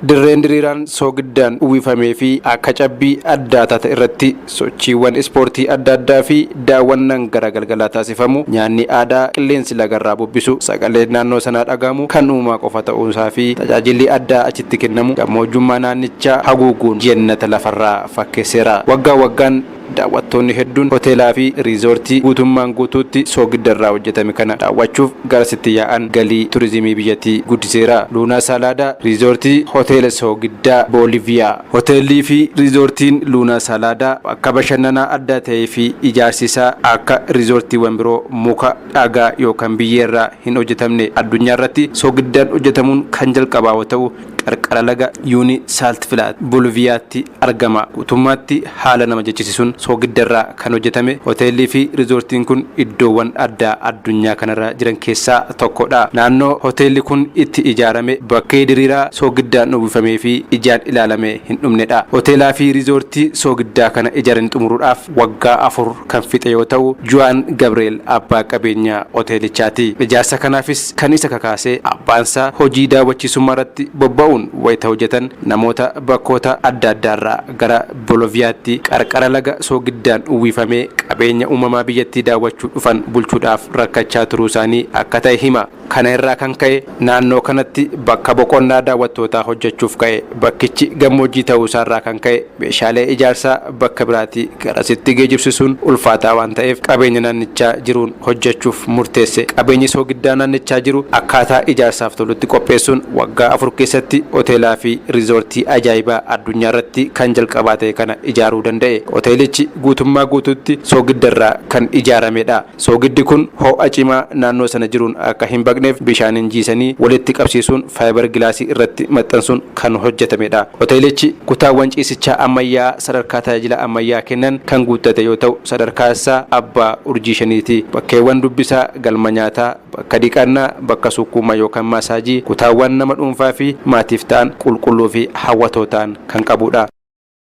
Dirreen diriiraan soogiddaan uwwifamee fi akka cabbii addaa taate irratti sochiiwwan ispoortii adda addaa fi daawwannaan gara galgalaa taasifamu, nyaanni aadaa, qilleensi laga irraa bubbisu, sagaleen naannoo sanaa dhaga'amu kan uumaa qofa ta'uu isaa fi tajaajilli addaa achitti kennamu gammoojjummaa naannichaa haguuguun jennata lafarraa fakkeesseera. Waggaa waggaan Daawwattoonni hedduun hoteelaafi riizoortii guutummaan guutuutti soogidda irraa hojjetame kana daawwachuuf garasitti yaa'an galii turizimii biyyattii guddiseera. Luunaa Saalaadaa, Riizoortii Hoteela Soogiddaa Booliviyaa. Hoteelliifi riizoortiin Luunaa Saalaadaa bakka bashannanaa addaa ta'eefi ijaarsi isaa akka riizoortiiwwan biroo muka, dhagaa yookan biyyee irraa hin hojjetamne. Addunyaarratti soogiddaan hojjetamuun kan jalqabaa yoo ta'u, qarqara laga Yuunii Saaltfilaat, Booliviyaatti argama. Guutummaatti haala nama jechisisuun soogidda irraa kan hojjetame hoteellii fi rizoortiin kun iddoowwan addaa addunyaa kanarra jiran keessaa tokko dha. Naannoo hoteelli kun itti ijaarame bakkee diriiraa soogiddaan uwwifamee fi ijaan ilaalamee hin dhumne dha. Hoteelaa fi rizoortii soogiddaa kana ijarani xumuruudhaaf waggaa afur kan fixe yoo ta'u, Juwaan Gabreel abbaa qabeenya hoteelichaa ti. Ijaarsa kanaafis kan isa kakaase abbaan isaa hojii daawwachiisummaa irratti bobba'uun wayita hojjetan namoota Bakkoota adda addaarraa gara Boloviyaatti qarqara laga soogiddaan uwwifamee qabeenya uumamaa biyyattii daawwachuu dhufan bulchuudhaaf rakkachaa turuusaanii akka ta'e hima. Kana irraa kan ka'e naannoo kanatti bakka boqonnaa daawwattootaa hojjechuuf ka'e. Bakkichi gammoojjii ta'uusaarraa kan ka'e meeshaalee ijaarsaa bakka biraatii garasitti geejibsisuun ulfaataa waan ta'eef qabeenya naannichaa jiruun hojjechuuf murteesse. Qabeenyi soogiddaa naannichaa jiru akkaataa ijaarsaaf tolutti qopheessuun waggaa afur keessatti hoteelaa fi riizoortii ajaa'ibaa addunyaarratti kan jalqabaa ta'e kana ijaaruu danda'e. Hoteelichi guutummaa guutuutti soogiddarraa kan ijaaramedha. Soogiddi kun ho'a cimaa naannoo sana jiruun akka hin baqneef bishaaniin jiisanii walitti qabsiisuun faayibar gilaasii irratti maxxansuun kan hojjetamedha. Hoteelichi kutaawwan ciisichaa ammayyaa'aa sadarkaa tajaajila ammayyaa kennan kan guuttate yoo ta'u, sadarkaa isaa abbaa urjii shaniiti. Bakkeewwan dubbisaa, galma nyaataa, bakka dhiqannaa, bakka sukkuuma yookan maasaajii, kutaawwan nama dhuunfaa fi maatiif ta'an qulqulluu fi hawwatoo ta'an kan qabudha.